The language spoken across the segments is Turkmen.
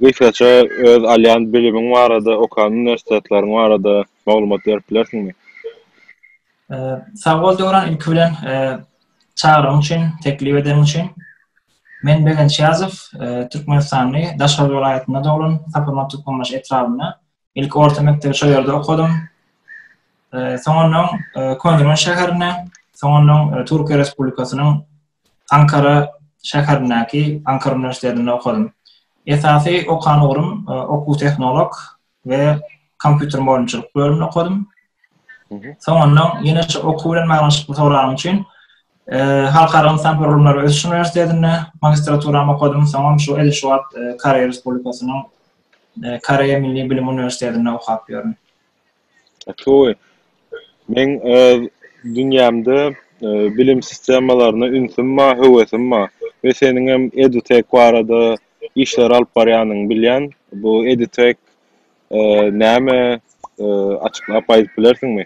Gysgaça öz alýan bilimiň barada, okan uniwersitetleriň barada maglumat berip bilersiňmi? Sagbol Döwran ilki bilen çagyryň üçin, teklip edeniň üçin. Men Begenç Ýazow, Türkmenistany Daşoguz welaýatynda doglan, Taparma Türkmenbaşy etrabynda. Ilki orta mekdebi şol ýerde okadym. Soňundan Köneürgenç şäherine, soňundan Türkiýe Respublikasynyň Ankara şäherindäki Ankara uniwersitetinde okadym. Esasy okan ugrum okuw tehnolog we kompýuter mugallymçylyk bölümini okadym. Soňundan ýene şu okuw bilen baglanşykly soragym üçin Halkara ynsan gurulmlary ösüş uniwersitetinde magistraturamy okadym, soňam şu edil şu wagt Koreýa Respublikasynyň Koreýa milli bilim uniwersitetinde okap ýörün. Toý. Meň öz dünýämde bilim sistemalaryna ünsüm bar, höwesim bar we seniň hem EduTech barada işler alyp barýanyňy bilýän. Bu EduTech näme? Açyklap aýdyp bilersiňmi?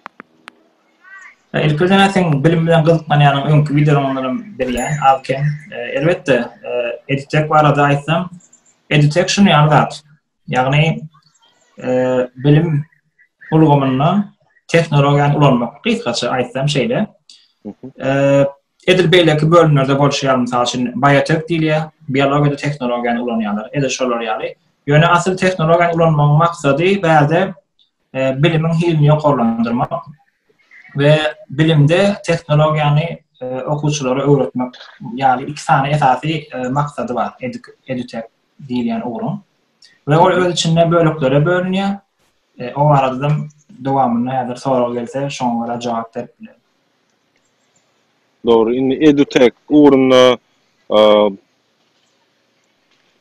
Ilki bilen seň bilim bilen gyzyklanýanyňy öňki wideolaryňdan hem bilýän az-kem. Elbetde, EduTech barada aýtsam, EduTech şuny ýaly zat. Ýagny bilim ulgamynda tehnologiýany ulanmak, gysgaça aýtsam şeýle. Edil beýleki bölümlerde bolşy ýaly, mysal üçin, biotek diýilýär, biologiýada tehnologiýany ulanýarlar, edil şolar ýaly. Ýöne asyl tehnologiýany ulanmagyň maksady bärde bilimiň hilini ýokarlandyrmak we bilimde tehnologiýany okuwçylara öwretmek ýaly iki sany esasy maksady bar, edil, edil. diýilýän ugruň we ol öz içinde böleklere bölünýär. O baradam dowamyny häzir sorag gelse şoňa görä jogap berip bilerin. Dogry. Indi EduTech ugrunda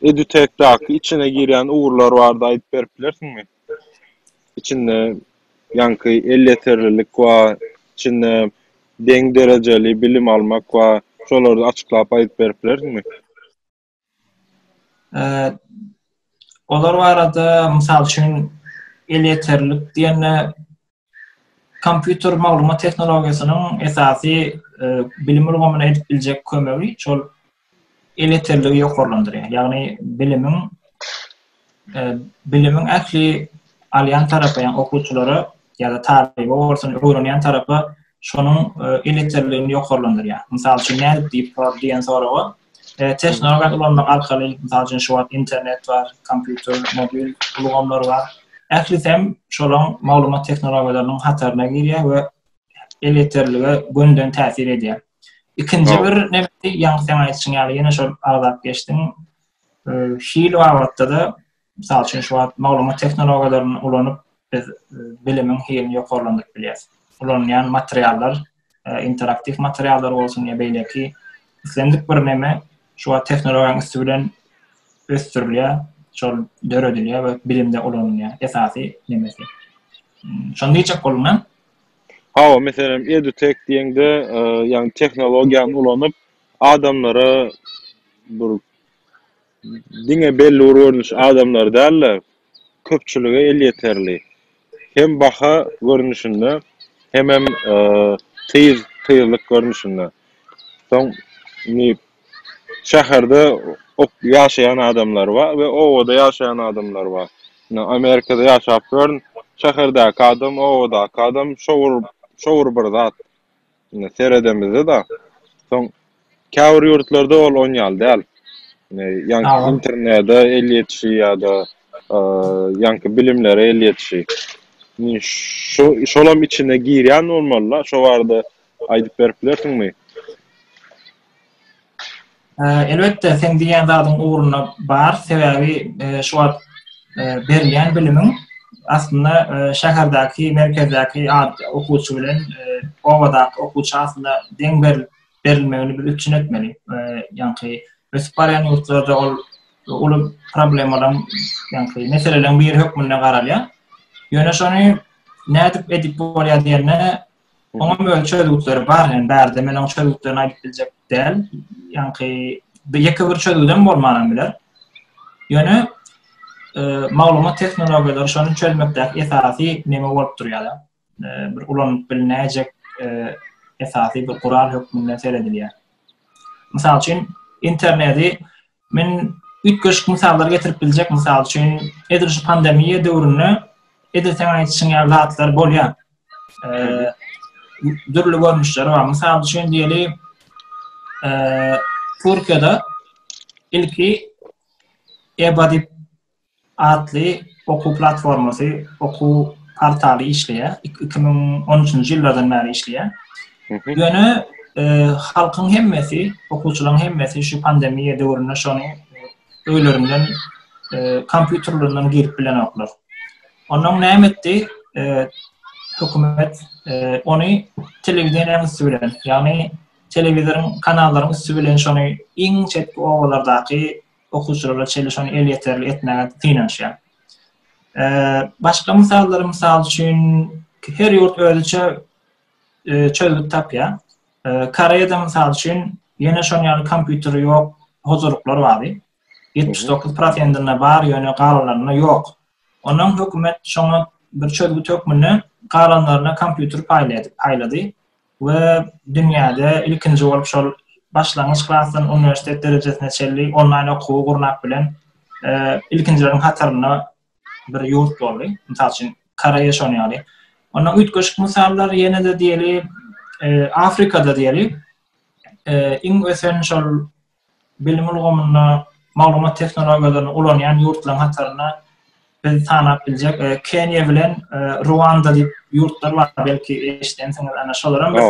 EduTech-daky içine girýän ugurlar barada aýdyp berip bilersiňmi? Içinde ýaňky elýeterlilik we içinde deň derejeli bilim almak we şolary açyklap aýdyp berip bilersiňmi? Olar barada, mysal üçin, elýeterlilik diýende, kompýuter maglumat tehnologiýasynyň esasy bilim ulgamyna edip biljek kömegi, şol elýeterligi ýokarlandyrýar. Ýagny bilimiň bilimiň ähli alýan tarapy, ýagny okuwçylara ýa-da talyba bolsun, öwrenýän tarapa şonuň e, eleterligini ýokarlandyrýar. Mysal üçin, nädip diýip sor diýen soraga e, tehnologiýany ulanmak arkaly, mysal üçin, şu wagt internet bar, kompýuter, mobil ulgamlar bar. Ählisi hem şolaň maglumat tehnologiýalarynyň hataryna girýär we eleterlige gönden täsir edýär. Ikinji bir nebsi, ýaňy sen aýdyşyň ýaly, ýene şol agzap geçdim. Hil babatda-da, mysal üçin, şu wagt maglumat tehnologiýalaryny ulanyp, biz bilimiň hilini ýokarlandyryp bilýäris. Ulanylýan materiallar, interaktiw materiallar bolsun ýa beýleki islendik bir näme şu wagt tehnologiýanyň üsti bilen ösdürilýär, şol döredilýär we bilimde ulanylýar. Esasy nemesi. Şony diýjek bolduň, hä? Hawa, meselem, EduTech diýeňde, ýagny tehnologiýany ulanyp, adamlara bir diňe belli bir görnüşli adamlara däl-de, köpçülige elýeterli hem baha görnüşinde, hemem tyz, tyzlyk görnüşinde. Soň, indi şäherde ýaşaýan adamlar bar we obada ýaşaýan adamlar bar. Indi Amerikada ýaşap ýörün, şäherdäki adam, obadaky adam şo bir, şo bir bir zat. seredemizde-de, soň käbir ýurtlarda ol onýaly däl. Ýaňky internede el ýetişi ýa-da ýaňky bilimlere el ýetişi. Şu, şolam içine girýän bolmaly-la, şo barada aýdyp berip bilersiňmi? Elbetde, seň diýýän zadyň ugruna bar, sebäbi şu wagt berilýän bilimiň aslynda şäherdäki, merkezdäki okuwçy bilen obadaky okuwça aslynda deň berilmegini biz üpjün etmeli. Ýagny ösüp barýan ýurtlarda ol uly problemalaryň, ýagny meseleleriň biri hökmünde garalýar. Ýöne şony nädip edip bolýar diýende, Oňam öň çözgütleri bar, ýani bärde men oň çözgütlerini aýdyp biljek däl. Ýanki bir ýeke bir çözgüdem bolmanam biler. Ýöne e, maglumat tehnologiýalary şony çözmekdäki esasy näme bolup durýar? E, bir ulanyp bilnäjek e, esasy bir gural hökmünde seredilýär. Mysal üçin, interneti Men üýtgeşik mysallar getirip biljek, mysal üçin, edil şu pandemiýa döwründe edil sen aýdyşyň ýaly zatlar bolýar. Eee, dürli görnüşleri bar. Mysal üçin diýeli, eee, Türkiýede ilki EBA diýip atly okuw platformasy, okuw portaly işleýär. Iki müň on üçünji ýyllardan bäri işleýär. Ýöne e, halkyň hemmesi, okuwçylaryň hemmesi şu pandemiýa döwründe şony e, öýlerinden e, kompýuterlerinden girip bilenoklar. Ondan näme etdi? Hökümet ony telewideniýäniň üsti bilen, ýagny telewizoryň kanallaryň üsti bilen şony iň çetki obalardaky okuwçylara çenli şony elýeterli etmäge synanyşýar. Başga mysallar, mysal üçin, her ýurt özüçe çözgüt tapýar. Koreýada, mysal üçin, ýene şonuň ýaly kompýuteri ýok huzurluklar bardy. 79 prosentinde bar, ýöne galanlarynda ýok. Ondan hökümet şoňa bir çözgüt hökmünde galanlaryna kompýuter paýlady. we dünýäde ilkinji bolup şol başlangyç klasdan uniwersitet derejesine çenli onlaýn okuwy gurnap bilen ilkinjileriň hatarynda bir ýurt boldy. Mysal üçin Koreýa şony ýaly. Onda üýtgeşik mysallar ýene-de diýeli Afrikada diýeli iň ösen şol Bilim ulgamynda maglumat tehnologiýalaryny ulanýan ýurtlaryň hatarynda biz sanap biljek Keniýa bilen Ruanda diýip ýurtlar bar, belki eşidensiňiz, ana şolara biz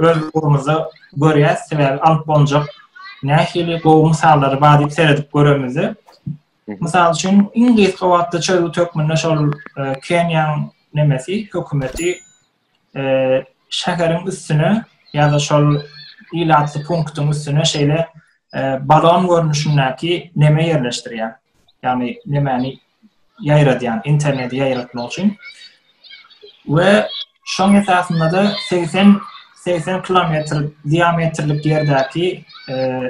öz ugrumyzda görýäs, sebäbi alyp bolunjak nähili gowy mysallary bar diýip seredip göremizde. Mysal üçin, iň gysga wagtda çözgüt hökmünde şol Keniýanyň nemesi, hökümeti şäheriň üstüne ýa-da şol ilatly punktyň üstüne şeýle balon görnüşindäki neme ýerleşdirýär. Ýagny nemäni ýaýradýan, interneti ýaýratmak üçin. We şoň esasynda-da 80 80 kilometr diametrlik ýerdäki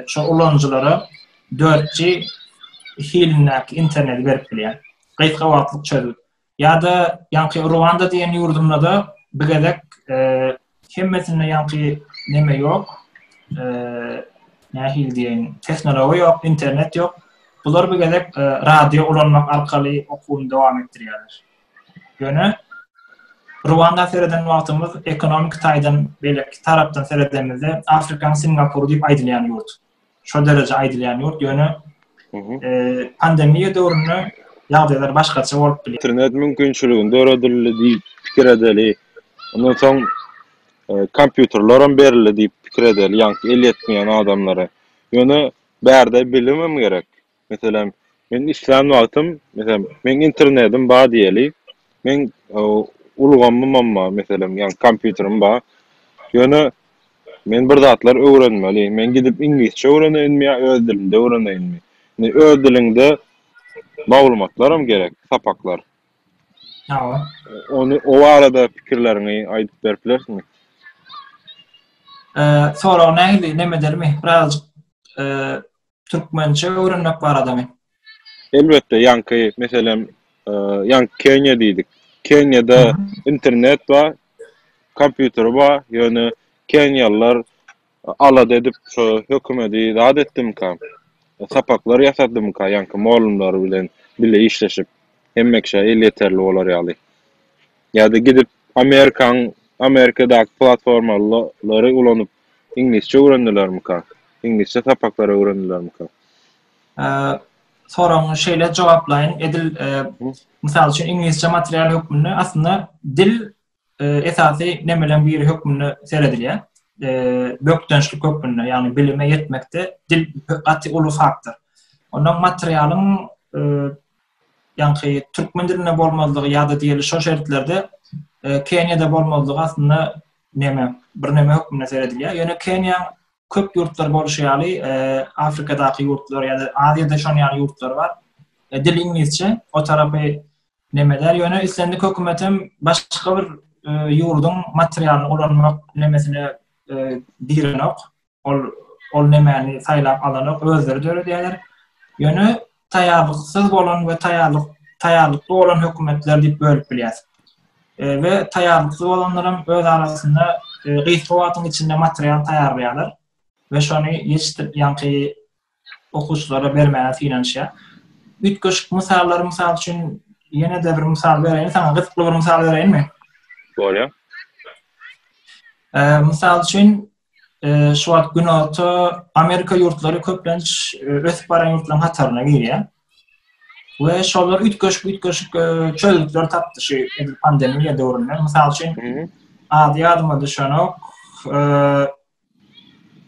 şo ulanyjylara 4G hilindäki interneti berip bilýär. Gysga wagtlyk çözgüt. Ýa-da ýaňky Ruanda diýen ýurdumda-da bu gezek hemmesinde ýaňky neme ýok, nähili diýeýin, tehnologiýa ýok, internet ýok. Bular bu gezek radio ulanmak arkaly okuwyny dowam etdirýärler. Ýöne Ruanda sereden wagtymyz ekonomiki taýdan beýleki tarapdan seredemizde Afrikanyň Singapur diýip aýdylýan ýurt. şol dereje aýdylýan ýurt, ýöne pandemiýa döwründe ýagdaýlar başgaça bolup biler. Internet mümkinçiligini döredildi diýip pikir edeli. Ondan soň kompýuterlerim berildi diýip pikir edeli, ýaňky el ýetmeýän adamlara. Ýöne bärde bilimem gerek. Meselem, men işlän wagtym, meselem, meniň internetim bar diýeli, meniň ulgamymam bar, meselem, ýa kompýuterim bar. Ýöne men bir zatlar öwrenmeli, men gidip iňlisçe öwreneýinmi ýa öz dilimde öwreneýinmi? Indi öz diliňde maglumatlaram gerek, sapaklar. Hawa. Ony, o barada pikirleriňi aýdyp berip bilersiňmi? Soragy nähili, näme edermi? Birazajyk türkmençe öwrenmek baradamy? Elbetde, ýaňky meselem, e, ýaňky Keniýa diýdik. Keniýada internet bar, kompýuter bar, ýöne keniýalylar alada edip şu hökümeti zat etdimka, sapaklar ýasadymka ýaňky mugallymlary bilen bile işleşip, hemme kişä el ýeterli bolar ýaly. Ýa-da gidip Amerikanyň Amerikadaky platformalary ulanyp iňlisçe öwrendilermika? Iňlisçe sapaklary öwrendilermika? Soragyňy şeýle jogaplaýyn. Edil mysal üçin iňlisçe material hökmünde aslynda dil esasy nemeleriň biri hökmünde seredilýär. Bökdençlik hökmünde, ýagny bilime ýetmekde dil gaty uly faktor. Ondan materialyň ýaňky türkmen dilinde bolmazlygy ýa-da diýeli şo şertlerde Keniýada bolmazlygy aslynda neme, birneme hökmünde seredilýär. Ýöne Keniýa köp ýurtlar bolşy ýaly, Afrikadaky ýurtlar ýa-da Aziýada şon ýaly ýurtlar bar. Dil iňlisçe, o tarapy neme däl, ýöne islendik hökümet hem başga bir ýurduň materialyny ulanmak nemesine girenok. Ol ol nemäni saýlap alanok, özleri döredýärler. Ýöne taýýarlyksyz bolan we taýýarlyk taýýarlykly bolan hökümetler diýip bölüp bilýäs. E, we taýýarlyksyz bolanlar hem öz arasynda e, gysga wagtyň içinde material taýýarlaýarlar we şony ýetişdirip, ýaňky okuwçylara bermäge synanyşýar. Üýtgeşik mysallar, mysal üçin, ýene-de bir mysal bereýin saňa, gyzykly bir mysal bereýinmi? Bolýar. Mysal üçin, şu wagt Günorta Amerika ýurtlary köplenç ösüp baran ýurtlaryň hataryna girýär. We şolar üýtgeşik üýtgeşik çözgütler tapdy şu pandemiýa döwründe. Mysal üçin, ady ýadyma düşenok,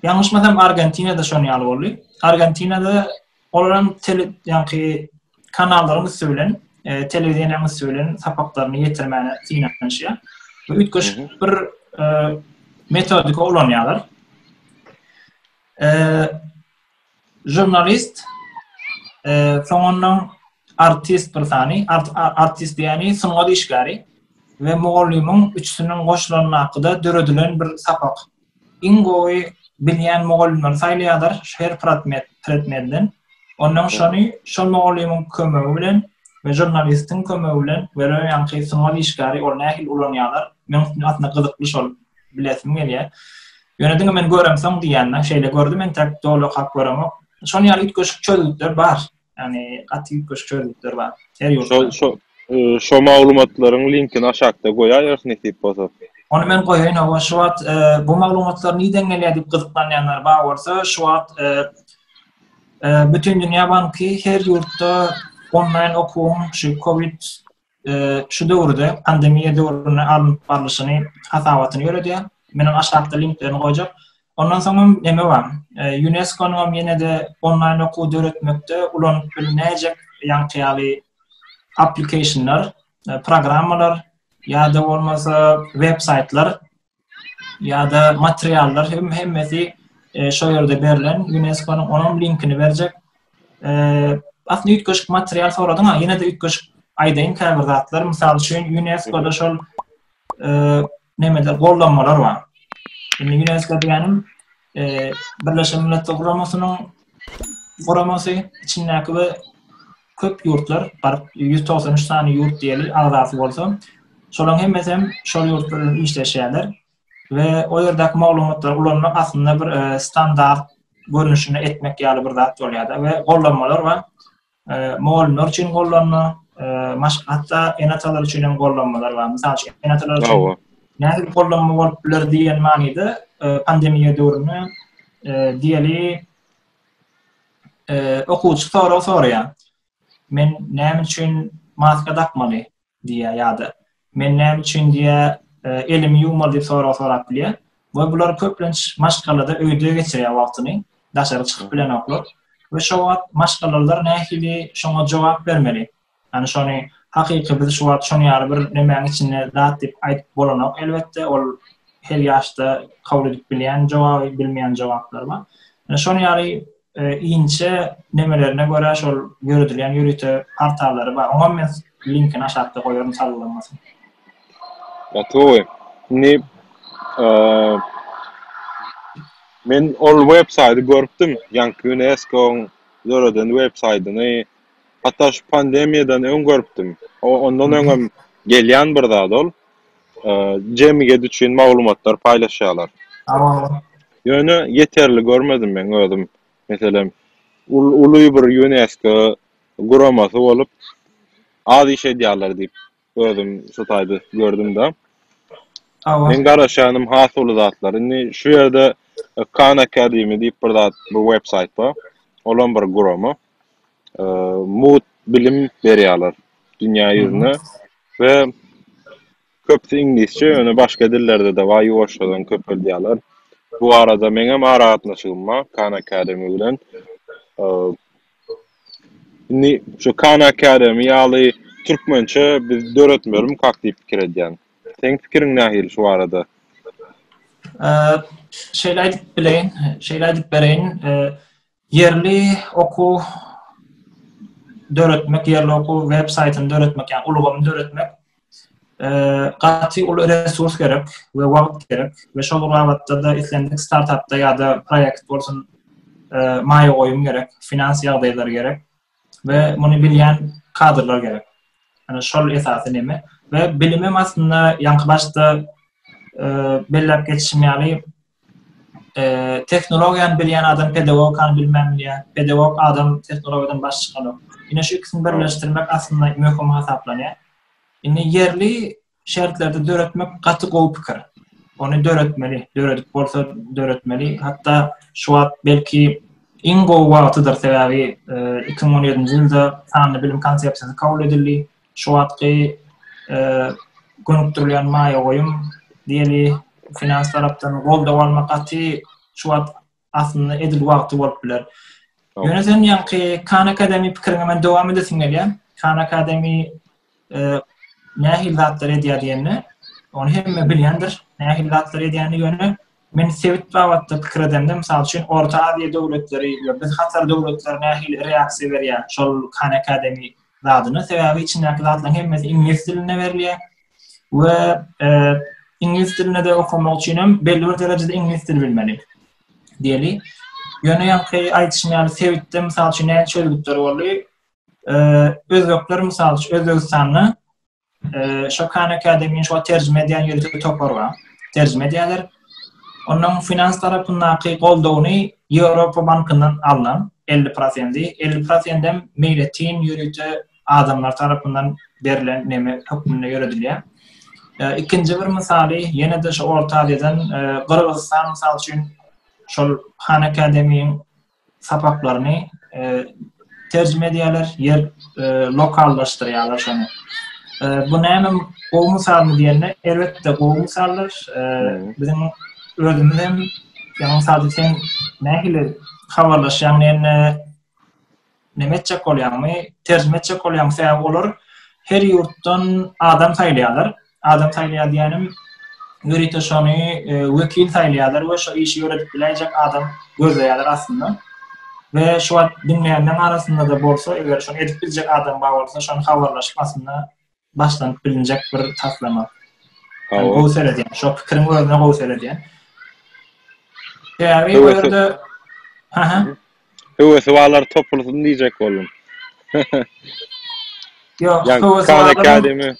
Ýalňyşmasam Argentinada şon ýaly boldy. Argentinada olaram tele ýanky kanallaryň üsti bilen, e, telewizionyň üsti bilen sapaklaryny ýetirmäne synanyşýar. Bu üýtgeşik bir e, metodika ulanýarlar. E, Žurnalist, soňundan artist bir sany, artist diýýäni sungat işgäri we mugallymyň üçüsiniň goşulandakyda döredilen bir sapak. Iň gowy bilýän mugallymlary saýlaýarlar her predmetden. Ondan şony şol mugallymyň kömegi bilen we žurnalistiň kömegi bilen we ýaňky sungat işgäri ol nähili ulanýarlar. Meň üçin aslynda gyzykly şol bilesim gelýär. Ýöne diňe men göremsoň diýýänler, şeýle gördüm entek doly okap göremok. Şonuň ýaly üýtgeşik çözgütler bar. Ýani gaty üýtgeşik çözgütler bar. Her ýurtda. Şo şo maglumatlaryň linkini aşakda goýaýarys nesip bolsa. Ony men goýaýyn hawa şu wagt e, bu maglumatlar nirden gelýär diýip gyzyklanýanlar bar bolsa şu wagt e, e, bütün dünýä banky her ýurtda onlaýn okuwyň şu covid şu döwürde pandemiýa döwründe alnyp barlyşyny hasabatyny ýöredýär. Men hem aşakda linklerini goýjak. Ondan soň hem näme bar? UNESCO-nyň hem ýene-de onlaýn okuw döretmekde ulanyp bilnäýjek ýaňky ýaly applikationlar, programmalar ýa-da bolmasa web-saýtlar ýa-da materiallar hem hemmesi e, şo ýerde berlen UNESCO-nyň onuň linkini berjek. E, aslynda üýtgeşik material soradyň ha, ýene-de üýtgeşik aýdaýyn käbir zatlar. Mysal üçin UNESCO-da şol e, nemeler gollanmalar bar. Indi UNESCO diýenim Birleşen Milletler Guramasynyň guramasy içindäki we köp ýurtlar, baryp 193 sany ýurt diýeli agzasy bolsa, şolaryň hemmesi hem şol ýurtlar bilen işleşýärler we o ýerdäki maglumatlary ulanmak aslynda bir standart görnüşini etmek ýaly bir zat bolýar-da we gollanmalar we mugallymlar üçin gollanma, maşgatda ene-atalar üçin hem gollanmalar bar. Mysal üçin, ene-atalar üçin nähili gollanma bolup biler diýen manyda pandemiýa döwründe diýeli okuwçy sorag soraýar. Men näme üçin maska dakmaly? diýýär ýa-da Men näme üçin diýýär, elimi ýuwmaly diýip sorag sorap bilýär. We bular köplenç maşgalada öýde geçirýär wagtyny, daşary çykyp bilenoklar. We şo wagt maşgalalar nähili şoňa jogap bermeli? Ýani şony hakyky biz şu wagt şony ýaly bir nemäň içinde zat diýip aýdyp bolanok elbetde, ol her ýaşda kabul edip bilýän jogaby, bilmeýän jogaplar bar. Ýani şony ýaly inçe nemelerine görä şol ýöredilýän ýörite portallary bar. Oňam men linkini aşakda goýaryn salgylanmasyn. Gatowy. Indi men ol web saýty görüpdim, ýaňky UNESCO-nyň döreden web saýtyny. Hatda şu pandemiýadan öň görüpdim. Ondan öňem gelýän bir zat ol. jemgyýet üçin maglumatlar paýlaşýarlar. Ýöne ýeterli görmedim meň özüm. Meselem, uly bir Ýunesko guramasy bolup, az iş edýärler diýip, özüm şu taýda gördüm-de. Meň garaşýanym has uly zatlar. Indi şu ýerde Khan Academy diýip bir zat, bir websaýt bar. Olam bir gurama. mugt bilim berýärler dünýä ýüzüne we köpüsi iňlisçe, ýöne başga dillerde-de bar, ýuwaşjadan köpeldýärler. Bu barada meňem aragatnaşygym bar Khan Academy bilen. Indi şu Khan Academy ýaly türkmençe biz döretmelimik hak diýip pikir edýän. Seň pikiriň nähili şu barada? Şeýle aýdyp bileýin, şeýle aýdyp bereýin. Ýerli okuw döretmek, ýerli okuw web saýtyny döretmek, ýa ulgamy döretmek gaty uly resurs gerek we wagt gerek we şol bir wagtda-da islendik startapda ýa-da proýekt bolsun maýa goýum gerek, finans ýagdaýlary gerek we muny bilýän kadrlar gerek. Ýani şol esasy neme we bilimem aslynda ýaňky başda belläp geçişim ýaly Tehnologiýany bilýän adam pedagogikany bilmän bilýär. Pedagog adam tehnologiýadan baş çykanok. Ine şu ikisini birleşdirmek aslynda möhüm hasaplanýar. Indi ýerli şertlerde döretmek gaty gowy pikir. Ony döretmeli, döredip bolsa döretmeli. Hatda şu wagt belki iň gowy wagtydyr sebäbi 2017-nji ýylda sanly bilim konsepsiýasy kabul edildi. şu wagtky gönükdirilen maýa goýum diýeli finans tarapdan goldaw almak gaty şu wagt aslynda edil wagty bolup biler. Ýöne sen ýaňky Khan Academy pikiriňe men dowam edesim gelýär. Khan Academy nähili zatlar edýär diýende, ony hemme bilýändir, nähili zatlar edýäni ýöne Men sebit babatda pikir edemde, mysal üçin, Orta Aziýa döwletleri we biz Hatar döwletleri nähili reaksiýa berýär şol Khan Academy zadyna? Sebäbi içindäki zatlaryň hemmesi iňlis dilinde berilýär we iňlis dilinde okamak üçin hem belli bir derejede iňlis dili bilmeli. Diýeli. Ýöne ýaňky aýdyşym ýaly sebitde mysal üçin näçe çözgütler boldy? Özbekler mysal üçin Özbegistanda Şo Khan Academy-ni şu wagt terjime edýän ýörite topar bar. Terjime edýärler. Onuň finans tarapyndaky goldawyny Ýewropa bankyndan alnan 50 prosenti, 50 prosent hem meýletin ýörite adamlar tarapyndan berlen neme hökmünde ýöredilýär. Ikinji bir mysaly ýene-de şu Orta Aziýadan Gyrgyzystan mysal üçin şol Khan Academy-niň sapaklaryny terjime edýärler, ýer lokallaşdyrýarlar şony. Bu näme gowy mysalmy diýende, elbetde gowy mysaldyr. Biziň özümiz hem ýa-da sadysy sen nähili habarlaşýaň diýende, näme etjek bolýaňmy, terjime etjek bolýaňmy, sebäbi olar her ýurtdan adam saýlaýarlar. Adam saýlaýar diýenim, ýörite şony wekil saýlaýarlar we şo işi ýöredip biläýjek adam gözleýärler aslynda. We şu wagt diňleýänleriň arasynda-da bolsa, eger şony edip biljek adam bar bolsa, şony habarlaşyp aslynda başlanyp bilinjek bir taslama. Hawa. Gowy seredýän, şo pikiriň özüne gowy seredýän. Sebäbi bu ýerde... Haha. Höwesi barlar topulsyn diýjek boldum. Ýok, höwesi barlar. Khan Academy.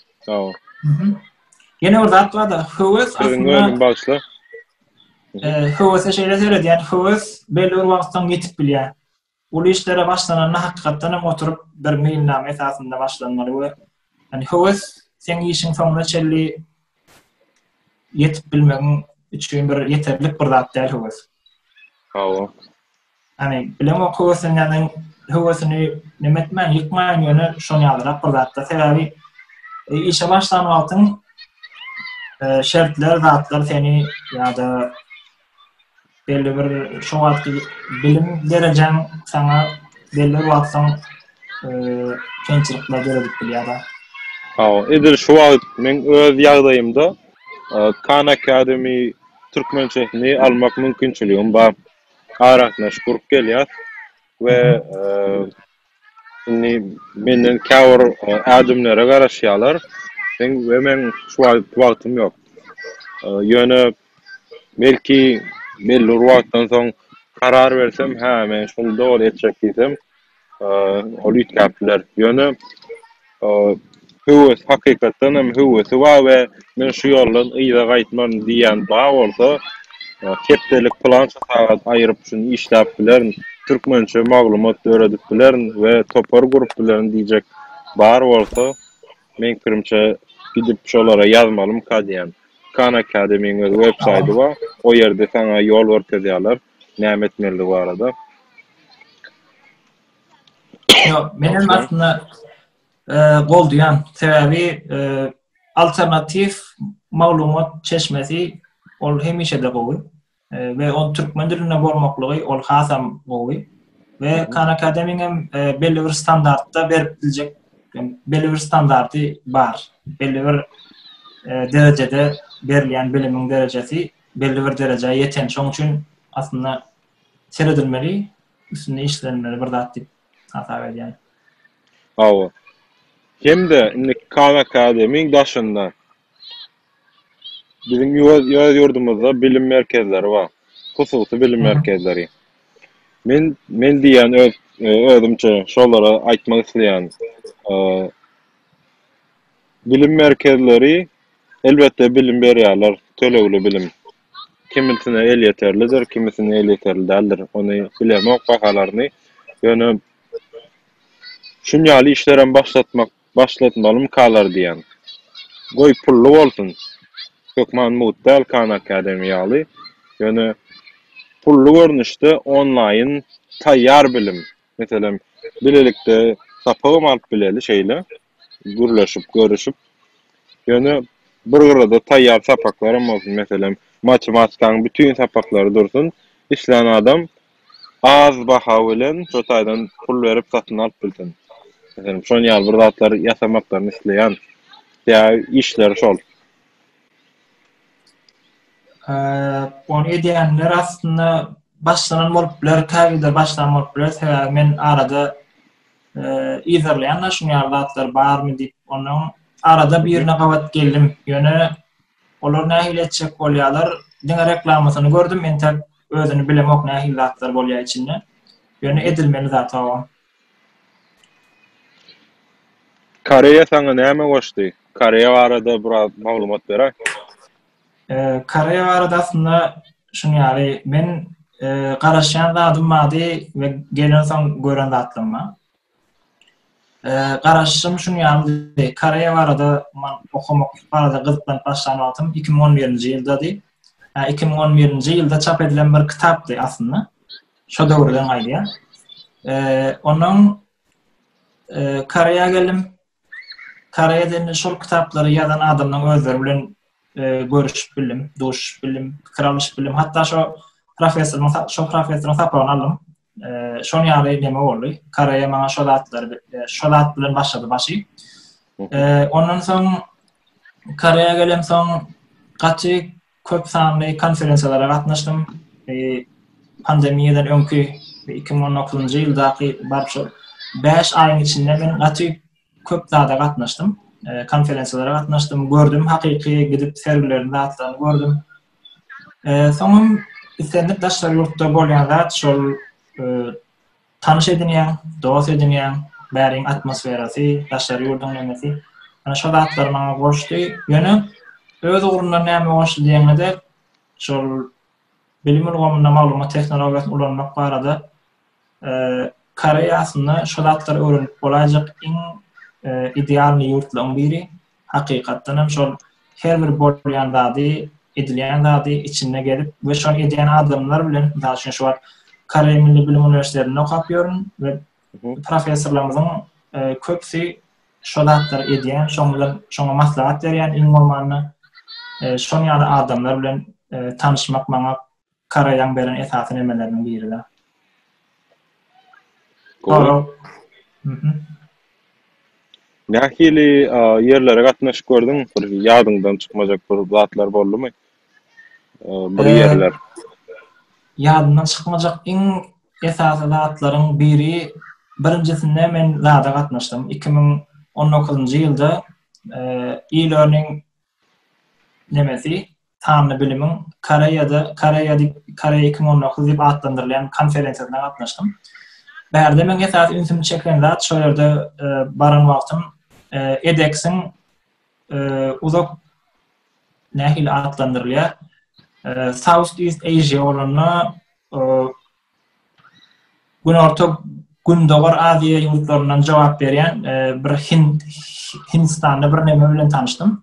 Ýene bir zat bar-da, höwes aslynda. Siziň öňüň bagşla. Höwese şeýle seredýän, höwes belli bir wagtdan ýetip bilýär. Uly işlere başlananda hakykatdan hem oturyp bir meýilnama esasynda başlanmaly we Yani höwes sen işiň soňuna çelli ýetip bilmegiň üçin bir ýeterlik bir zat däl höwes. Hawa. Yani bilen o höwesini yani höwesini näme etmän, ýykmaýan ýöne şoň ýalyrak bir zatda. Sebäbi e, işe başlan wagtyň e, şertler, zatlar seni ýa-da belli bir şu wagtky bilim derejäň saňa belli bir wagt soň kynçylyklar döredip bilýär-de. Hawa, edil şu wagt meň öz ýagdaýymda Khan Academy türkmençesini almak mümkinçiligim bar. Arasynda şükür gelýär we Indi menden käbir ädimlere garaşýarlar. Meň we meň şu wagtky wagtym ýok. Ýöne belki belli bir wagtdan soň karar bersem, hä, men şuny doly etjek diýsem, ol üýtgäp biler. Ýöne O höwes hakykatdan hem höwesi bar we men şu ýoldan yza gaýtmaryn diýýän bar bolsa, hepdelik pylança sagat aýyryp şuny işläp bilerin, türkmençe maglumat döredip bilerin we topar gurup bilerin diýjek bar bolsa, meň pikirimçe gidip şolara ýazmalymyka diýýän. Khan Academy-iň öz web saýdy bar, o ýerde saňa ýol görkezýärler näme etmelidigi barada. Ýok, men hem aslynda eee, goldaýan. Sebäbi eee, alternatiw maglumat çeşmesi ol hemişe-de gowy. Eee, we ol türkmen dilinde bolmaklygy ol hasam gowy. We Khan Academy-niň hem eee, belli bir standartda berip biljek, belli bir standarty bar. Belli bir eee, derejede berilýän bilimiň derejesi belli bir derejä ýeten. Şonuň üçin aslynda seredilmeli. üstünde işlenmeli bir zat diýip hasap edýän. Hawa. Hem-de indi Khan Academy-iň daşynda biziň öz ýurdumyzda bilim merkezleri bar. Hususy bilim merkezleri. Men men diýýän öz özümçe şolara aýtmak isleýän bilim merkezleri elbetde bilim berýärler, tölegli bilim. kimisine elýeterlidir, kimisine elýeterli däldir, ony bilemok bahalaryny, ýöne şunýaly işlerem başlatmak, başlatmalymkalar diýýän. Goý, pully bolsun, hökman mugt däl Khan Academy ýaly, ýöne pully görnüşde onlaýyn taýýar bilim, meselem, bilelikde sapagam alyp bileli şeýle. gürleşip, görüşip, ýöne bir gyrada taýýar sapaklarym bolsun, meselem, matematikanyň bütin sapaklary dursun, islän adam az baha bilen şo taýdan pul berip satyn alyp bilsin. Meselem, şonuň ýaly bir zatlar ýasamaklaryny isleýän. Ýa işleri şol. Ony edýänler aslynda başlanan bolup biler, käbirleri başlan bolup biler, sebäbi men arada yzarlaýan-da şuň ýaly zatlar barmy diýip, ondan arada birine gabat geldim. Ýöne olar nähili etjek bolýarlar, diňe reklamasyny gördüm, entek özüni bilemok nähili zatlar bolýar içinde. Ýöne edilmeli zat hawa. Koreýa saňa näme goşdy? Koreýa barada biraz maglumat beräý. Koreýa barada aslynda şuny ýaly, men garaşýan zadym bady we gelen soň gören zatlarym bar. Garaşym şuny ýalydy, Koreýa barada men okamak barada gyzyklanyp başlan wagtym 2011-nji ýyldady. 2011-nji ýylda çap edilen bir kitapdy aslynda. Şo döwürden gaýdýar. Onuň Koreýa gelim, Karaýa diýende şol kitaplary ýazan adamlaryň özleri bilen görüşüp bildim, duşup bildim, pikir alyşyp bildim. Hatda şo professoryň şo professoryň sapagyny aldym. Şoň ýaly neme boldy. Karaýa maňa şo zatlary şo zat bilen başlady başy. Ondan soň Karaýa gelemsoň gaty Köp sanly konferensiýalara gatnaşdym. Pandemiýadan öňki 2019-njy ýyldaky bar şol 5 aýyň içinde men gaty köp zada gatnaşdym. Konferensiýalara gatnaşdym, gördüm hakyky gidip sergilerini zatlaryny gördüm. Soňam islendik daşary ýurtda bolýan zat şol Tanyş edinýäň, dost edinýäň, bäriň atmosferasy, daşary ýurduň nemesi, ýöne şo zatlar maňa goşdy, ýöne öz ugrundan näme goşdy diýeňde-de, şol bilim ulgamynda maglumat tehnologiýasyny ulanmak barada Koreýa aslynda şo zatlary öwrenip bolaýjak iň idealnyý ýurtlaryň biri, Hakykatdan hem şol her bir bolýan zady, edilýän zady içinde gezip we şony edýän adamlar bilen, mysal üçin şu wagt Koreý Milli Bilim Uniwersitetinde okap ýörün we professorlarymyzyň e, köpüsi şo zatlary edýän, şoň bilen şoňa maslahat berýän iň bolmanda e, şon ýaly adamlar bilen e, tanyşmak maňa Karaýaň beren esasy nemeleriniň biri-de. Nähili ýerlere gatnaşyp gördüň? Bir ýadyňdan çykmajak bir zatlar boldumy? Bir ýerler. Ýadymdan çykmajak iň esasy zatlaryň biri, birinjisinde men zada gatnaşdym. Iki müň on dokuzynjy ýylda e-learning nemesi, sanly bilimiň Koreýada, Koreýa diýip, Koreýa 2019 diýip atlandyrylýan konferensiýasyna gatnaşdym. Bärde meň esasy ünsümi çeken zat şol ýerde e, baran wagtym e, EDEX-iň e, uzak nähili atlandyrylýar? South East Asia bolanda Günorta Gündogar Aziýa ýurtlaryndan jogap berýän bir Hind Hindistanly bir neme bilen tanyşdym.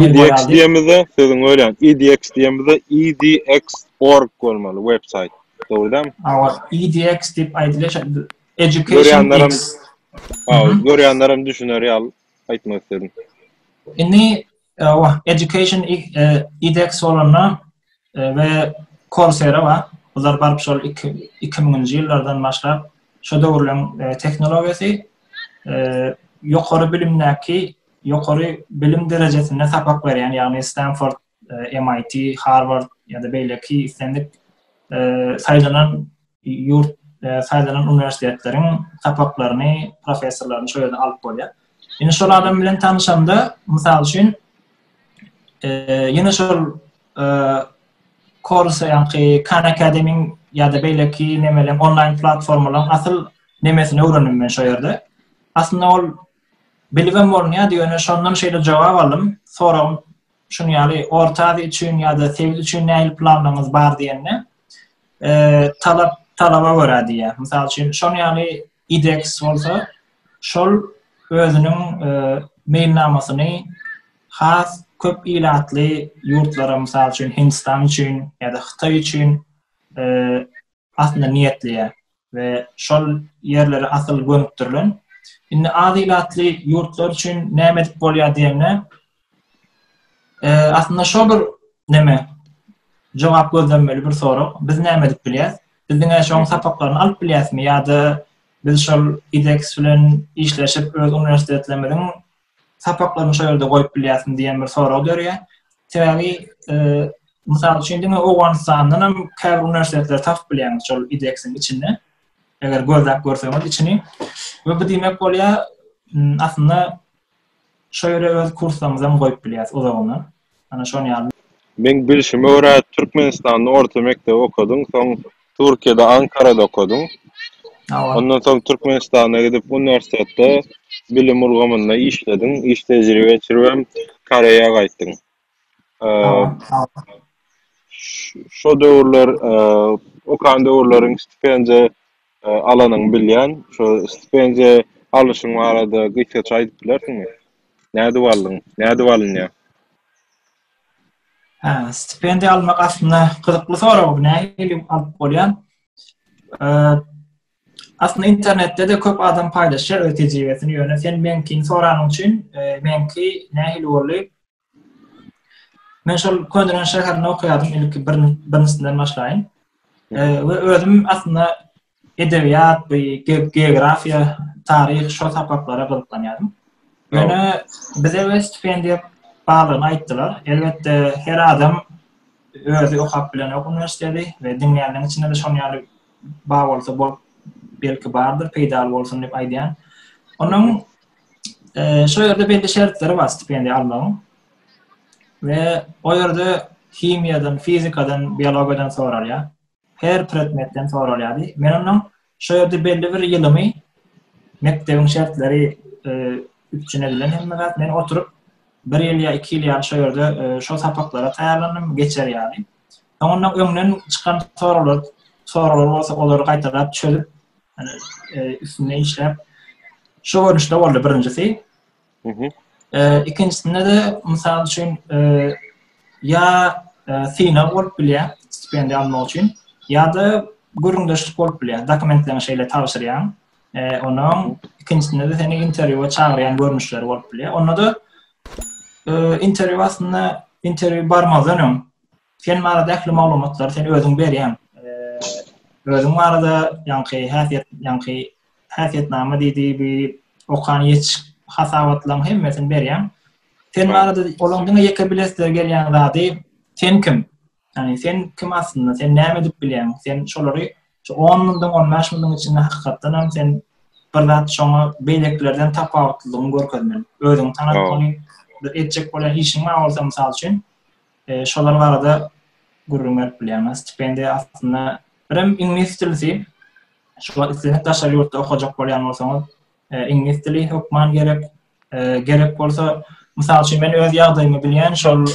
EDX diýemizde, sözüň bölýän. EDX diýemizde edx.org bolmaly web saýt. Dogry dämi? Awa, EDX diýip aýdylýar. Education X. Görýänler hem düşüner ýaly aýtmak isledim. Indi Ýa-wa, Education IDEX bolanda we Coursera bar. Bular baryp şol iki müňünji ýyllardan başlap şo döwürleň tehnologiýasy ýokary bilimdäki ýokary bilim derejesinde sapak berýän, ýagny Stanford, MIT, Harvard ýa-da beýleki islendik saýlanan ýurt saýlanan uniwersitetleriň sapaklaryny, professorlaryny şol ýerden alyp bolýar. Ýene şol adam bilen tanşanda, mysal üçin, e, ýene şol e, Korsa ýa-da Khan Academy ýa-da beýleki nemeler, onlaýn platformalar asyl nemesini öwrendim men şol ýerde. Aslynda ol bilibem bolunýar, ýöne şondan şeýle jogap aldym, soragym Şuny ýaly Orta Aziýa üçin ýa-da sebit üçin nähili planlaryňyz bar diýende, talap talaba görä diýýär. Mysal üçin, şonuň ýaly IDEX bolsa, şol özüniň meýilnamasyny has köp ilatly ýurtlara, mysal üçin, Hindstan üçin ýa-da Hytaý üçin aslynda niýetleýär we şol ýerlere asyl gönükdirilen. Indi az ilatly ýurtlar üçin näme edip bolýar diýende, e, aslynda şol bir näme jogap gözlenmeli bir sorag. Biz näme edip bilýäs? Biz diňe şoň sapaklaryny alyp bilýäsmi ýa-da biz şol IDEX bilen işleşip öz uniwersitetlerimiziň sapaklaryňy şol ýerde goýup bilýärsiň diýen bir sorag dörýär. Sebäbi mysal üçin diňe Owganystandan hem käbir uniwersitetleri tapyp bilýäňiz şol IDEX-iň içinde. Eger gözläp görseňiz içini. We bu diýmek bolýar, aslynda şo ýere öz kurslarymyzy hem goýup bilýäris uzagyna. Ana şon ýaly. Meň bilşime görä Türkmenistanda orta mekdebi okadyň soň Türkiýede Ankarada okadyň. Hawa. Ondan soň Türkmenistana gidip uniwersitetde bilim ulgamynda işlediň, iş tejribe geçirip hem Koreýa gaýtdyň. Hawa, hawa. Şo döwürler okan döwürleriň stipendiýa alanyňy bilýän, şo stipendiýa alyşyň barada gysgaça aýdyp bilersiňmi? Nädip aldyň? Nädip alynýar? Hä, stipendiýa almak aslynda gyzykly sorag, nähili alyp bolýar? Aslynda internetde-de köp adam paýlaşýar öz tejribesini, ýöne sen meňkini soranyň üçin, meňki nähili boldy? Men şol Könüren şäherinde okaýardym, ilki bir birinjisinden başlaýyn. We özüm aslynda edebiýat, bu geografiýa, taryh şol sapaklara gyzyklanýardym. Ýöne bize we stipendiýa barlygyny aýtdylar. Elbetde her adam özi okap bilenok uniwersiteti we diňleýänleriň içinde de şonuň ýaly bar bolsa bolup belki bardyr, peýdaly bolsun diýip aýdýan. Onuň Ee, şu yerde belli şertleri var stipendiya almanın. Ve o yerde himiyadan, fizikadan, biyologiyadan sorar ya. Her predmetten sorar ya. Men onun şu yerde belli bir yılımı mektebin şertleri e, üpçün edilen hem men oturup bir yıl ya iki yıl ya şu yerde e, şu sapaklara tayarlandım geçer yani. Ondan öňden çykan soraglar, soraglar bolsa olary gaýtalap çözüp, hani e, üstünde işläp şu görnüşde boldy birinjisi. E, ikincisinde de misal üçin e, ya e, synag bolup bilýär stipendiýa almak üçin ya da gürrüňdeşlik bolup bilýär. Dokumentlerini şeýle tabşyrýan. E, onuň ikincisinde de seni interwýua çagyrýan görnüşleri bolup bilýär. Onda da Interwýu aslynda interwýu barmazdan öň sen barada ähli maglumatlary sen özüň berýäň. Özüň barada ýaňky häsiýet, ýaňky häsiýetnama diýdi, bu okan ýetiş hasabatlaryň hemmesini berýäň. Sen barada olaň diňe ýeke bilesileri gelýän zady sen kim? Ýagny sen kim aslynda, sen näme edip bilýäň, sen şolary şu on ýyldyň, on bäş ýyldyň içinde hakykatdan hem sen bir zat şoňa beýlekilerden tapawutlylygyňy görkezmeli. Özüňi tanatmaly, bir etjek bolýan işiň bar bolsa, mysal üçin, e, şolar barada gürrüň berip bilýäňmi? Stipendiýa aslynda birem iňlis dilisi, şu wagt isleseňiz daşary ýurtda okajak bolýan bolsaňyz, e, iňlis dili hökman gerek, Gerek bolsa, mysal üçin, men öz ýagdaýymy bilýän, şol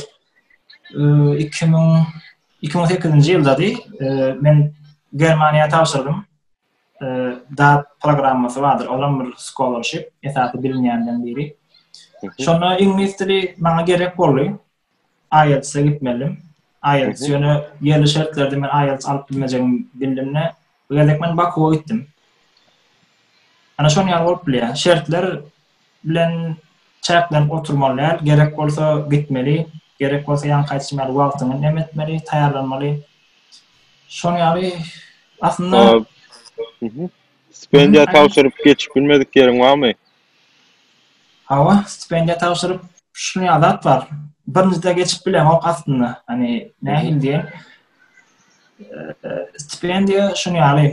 2008-nji ýyldady, men Germaniýa tabşyrdym. DAAD programmasy bardyr, olam bir scholarship, esasy bilinýänden biri. Şonda iňlis dili maňa gerek boldy. IELTS-e gitmelidim. IELTS ýöne ýerli şertlerde men IELTS alyp bilmejegimi bildimde, bu gezek men Bakuwa gitdim. Ana şonuň ýaly bolup bilýär. Şertler bilen çäklenip oturmaly däl. Gerek bolsa gitmeli, gerek bolsa ýaňky aýdyşym ýaly wagtyňy nem etmeli, taýýarlanmaly. Şonuň ýaly aslynda Stipendiýa tabşyryp geçip bilmedik ýeriň barmy? Hawa, stipendiýa tabşyryp, şuny adat bar. Birinjide geçip bileňok aslynda. Hani nähili diýen? Stipendiýa şuny ýaly.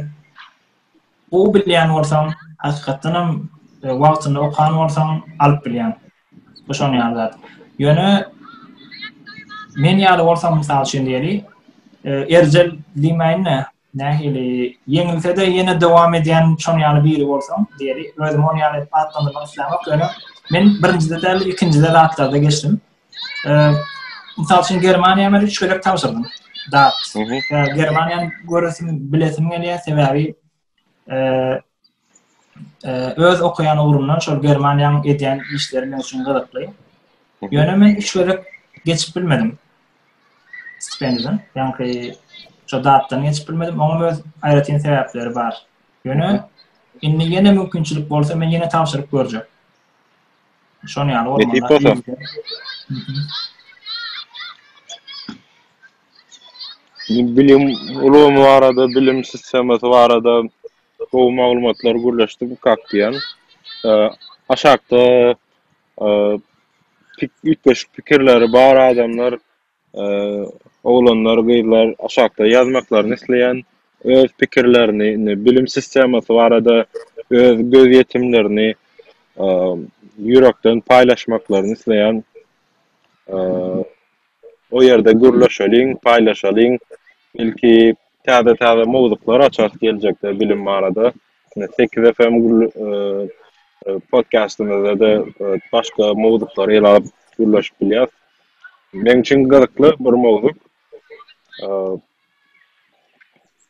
Bu bilýän bolsaň, hakykatdan hem e, wagtynda okan bolsaň, alyp bilýän. Bu şuny ýaly zat. Ýöne men ýaly bolsaň, mysal üçin diýeli, e, erjel diýmäýin-de, Nähili ýeňilse-de ýene dowam edýän şoň ýaly biri bolsaň, diýeli, özümi oň ýaly edip atlandyrmak islämok, ýöne men birinjide däl-de ikinjide zatlarda geçdim. Mysal üçin Germaniýa men üç gezek tabşyrdym. Dat. Germaniýany göresim, bilesim gelýär, sebäbi öz okaýan ugrumdan şol Germaniýanyň edýän işleri men üçin gyzykly. Ýöne men üç gezek geçip bilmedim. Stipendiden, ýaňky şo datdan geçip bilmedim. Oňa öz aýratyn sebäpleri bar. Ýöne indi ýene mümkinçilik bolsa men ýene tabşyryp görjek. Şony ýaly bolmanda. Bilim ulgamy barada, bilim sistemasy barada Gowy maglumatlar gürleşdim kak diýýän. Aşakda üýtgeşik pikirleri bar adamlar oglanlar gyzlar aşakda ýazmaklaryny isleýän öz pikirlerini indi bilim sistemasy barada öz göz ýetimlerini ýürekden paýlaşmaklaryny isleýän. O ýerde gürleşeliň, paýlaşalyň. Belki täze-täze mowzuklar açarys geljekde bilim barada. Sekiz FM podkastymyzda-da başga mowzuklary ele alyp gürleşip bilýäris. Meň üçin gyzykly bir mowzuk.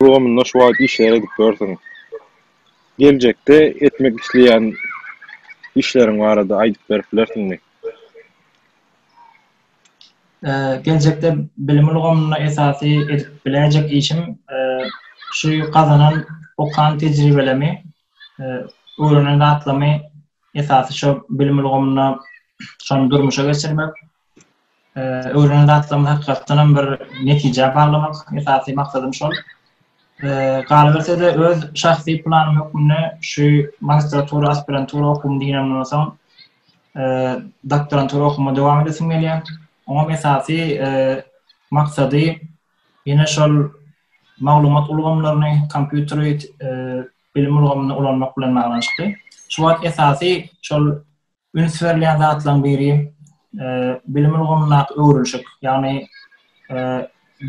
Ulgamynda şu wagt işleri edip ýörsüň. Geljekde etmek isleýän işleriň barada aýdyp berip bilersiňmi? Geljekde bilim ulgamynda esasy edip biläýjek işim şu gazanan okan tejribelemi, öwrenen zatlarymy esasy şo bilim ulgamynda şony durmuşa geçirmek. Öwrenen zatlarymy hakykatdanam bir netijä baglamak esasy maksadym şol. Galyberse-de öz şahsy planym hökmünde şu magistratura, aspirantura okuwymy diňlämden soň doktorantura okuwyma dowam edesim gelýär. Oňa esasy maksady ýene şol maglumat ulgamlaryny, kompýuteri bilim ulgamynda ulanmak bilen baglanyşykly. Şu wagt esasy şol Üns berilýän zatlaryň biri bilim ulgamyndaky öwrülişik, ýagny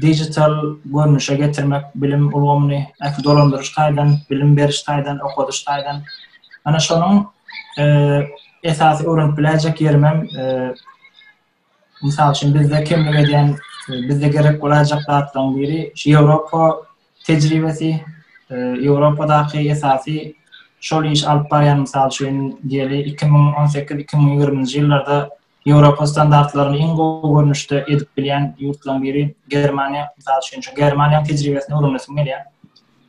digital görnüşe getirmek bilim ulgamyny ähli dolandyryş taýdan, bilim beriş taýdan, okadyş taýdan. Ana şonuň esasy öwrenip biläýjek ýerim hem Mysal üçin, bizde kemlik edýän, bizde gerek bolajak zatlaryň biri şu Ýewropa tejribesi, e, Ýewropadaky esasy şol iş alyp barýan mysal üçin diýeli 2018-2020-nji ýyllarda Ýewropa standartlaryny iň gowy görnüşde edip bilýän ýurtlaryň biri Germaniýa. Mysal üçin, şu Germaniýanyň tejribesini öwrenesim gelýär.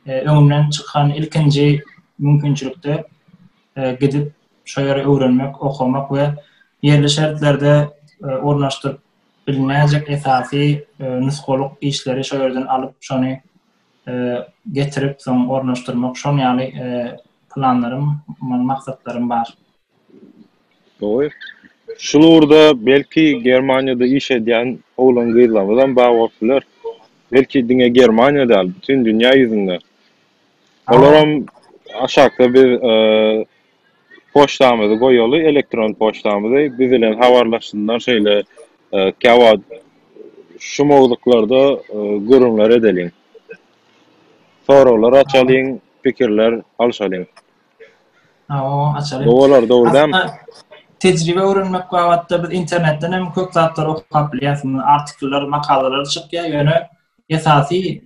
E, öňümden çykan ilkinji mümkinçilikde e, gidip şo ýeri öwrenmek, okamak we ýerli şertlerde ornaşdyryp bilinäýjek esasy nusgalyk işleri şo ýerden alyp, şony getirip, soň ornaşdyrmak, şoň ýaly planlarym, maksatlarym bar. Gowy. Şul ugurda belki Germaniýada iş edýän oglan-gyzlarymyzam bar bolup biler. Belki diňe Germaniýa däl, bütin dünýä ýüzünde Olaram aşakda biz poçtamyzy goýaly elektron poçtamyzy biz bilen habarlaşsynlar şeýle käwagt şu mowzuklarda gürrüňler edeliň soraglar açalyň pikirler alyşalyň. Gowy bolar dogry dämi. Tejribe öwrenmek babatda biz internetden hem köp zatlary okap bilýäs artikllar makalalary çykýar ýöne Esasy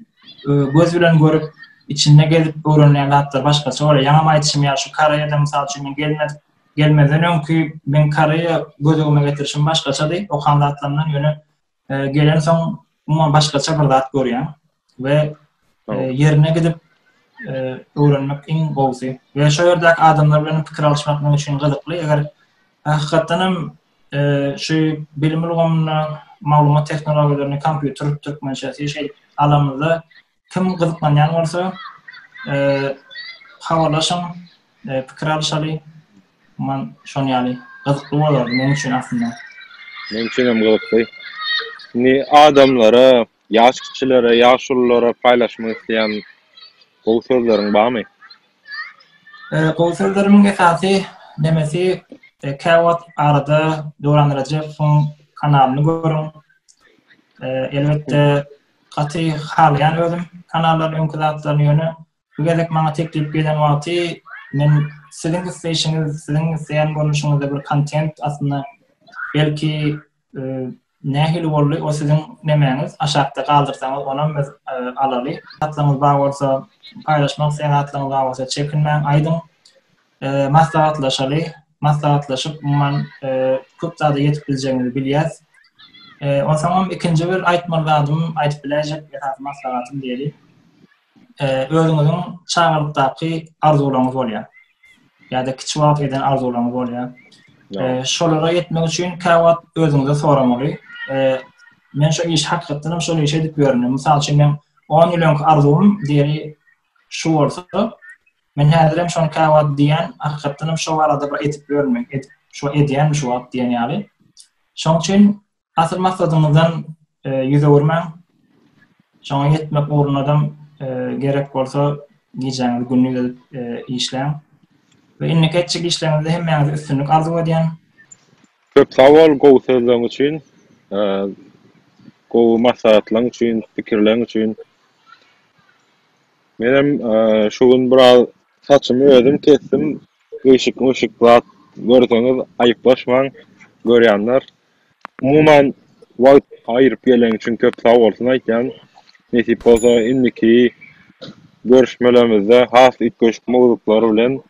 göz bilen görüp, içinde gezip öwrenilen zatlar başgaça bolýar. Ýaňam aýdyşym ýaly, şu Koreýada mysal üçin men gelmez gelmezden öňki men Koreýa göz öňüme getirişim başgaçady. Okan zatlarymdan ýöne gelensoň umuman başgaça bir zat görýän we ýerine gidip öwrenmek iň gowusy. Ýa şo ýerdäki adamlar bilen pikir alyşmak men üçin gyzykly. Eger hakykatdan hem Şu bilim ulgamynda maglumat tehnologiýalaryny, kompýuter türkmençesi şeýle alanymyzda kim gyzyklanýan bolsa, habarlaşyň, pikir alyşaly. Man şon ýaly gyzykly bolardy men üçin aslynda. Men üçin hem gyzykly. Indi adamlara Ýaş kişilere, ýaşululara paýlaşmak isleýän gowy sözleriň barmy? Gowy sözlerimiň esasy nemesi, käwagt arada Döwran Rejepowyň kanalyny görüň. Elbetde, gaty halaýan özüm kanallaryny öňki zatlaryny ýöne Bu gezek maňa teklip gelen wagty men siziň isleýşiňiz, siziň isleýän görnüşiňizde bir kontent aslynda belki nähili boldy o siziň nemäňiz aşakda galdyrsaňyz onam biz alaly hatlaňyz bar bolsa paýlaşmak isleýän hatlaňyz bar bolsa çekinmäň aýdyň maslahatlaşaly maslahatlaşyp umuman köp zada ýetip biljegimizi bilýäs onsoňam ikinji bir aýtmaly zadym aýdyp biläýjek esasy maslahatym diýeli e, özüňiziň çagalykdaky arzuwlaryňyz bolýar. Ýa-da kiçi wagt eden arzuwlaryňyz bolýar. E, şolara ýetmek üçin käwagt özüňize soramaly. E, men şu iş hakykatdan hem şol işe edip ýörün. Mysal üçin men 10 ýyl öňki arzuwym diýeli şu bolsa, men häzir hem şony käwagt diýen, hakykatdan hem şu arada bir edip ýörün, edip şu edýän şu wagt diýen ýaly. Şoň üçin Asyl maksadyňyzdan ýüz öwürmäň. Şoňa ýetmek ugrundam gerek bolsa gijäňizi gündiz edip işläň. We indiki etjek işleriňizde hemmäňize üstünlik arzuw edýän. Köp sag bol gowy sözleriň üçin, gowy maslahatlaryň üçin, pikirleriň üçin. Menem şu gün biraz saçymy özüm kesdim. Gyşyk-myşyk zat görseňiz aýyplaşmaň görýänler. Umuman wagt aýyryp gelen üçin köp sag bolsun aýtýan. Nesip bolsa indiki görüşmelerimizde has üýtgeşik mowzuklar bilen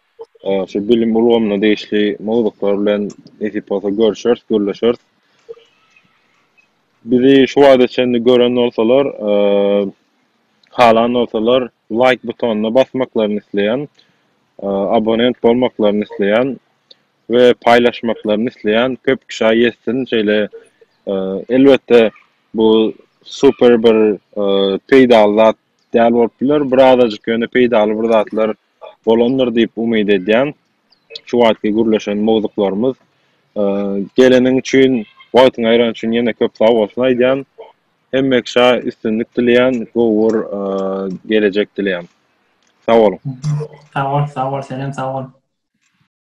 şu bilim ulgamyna degişli mowzuklar bilen nesip bolsa görüşeris, gürleşeris. Bizi şu wagta çenli gören bolsalar halan bolsalar laýk butonyna basmaklaryny isleýän. Abonent bolmaklaryny isleýän. we paýlaşmaklaryny isleýän köp kişä ýetsin. Şeýle elbetde bu super bir peýdaly zat däl bolup biler, bir azajyk ýöne peýdaly bir zatlar bolandyr diýip umyt edýän. Şu wagtky gürleşen mowzuklarymyz. Geleniň üçin, wagtyňy aýran üçin ýene köp sag bolsun aýdýan. Hemme kişä üstünlik dileýän, gowy bir gelejek dileýän. Sag boluň. Sag bol, sag bol, senem sag bol.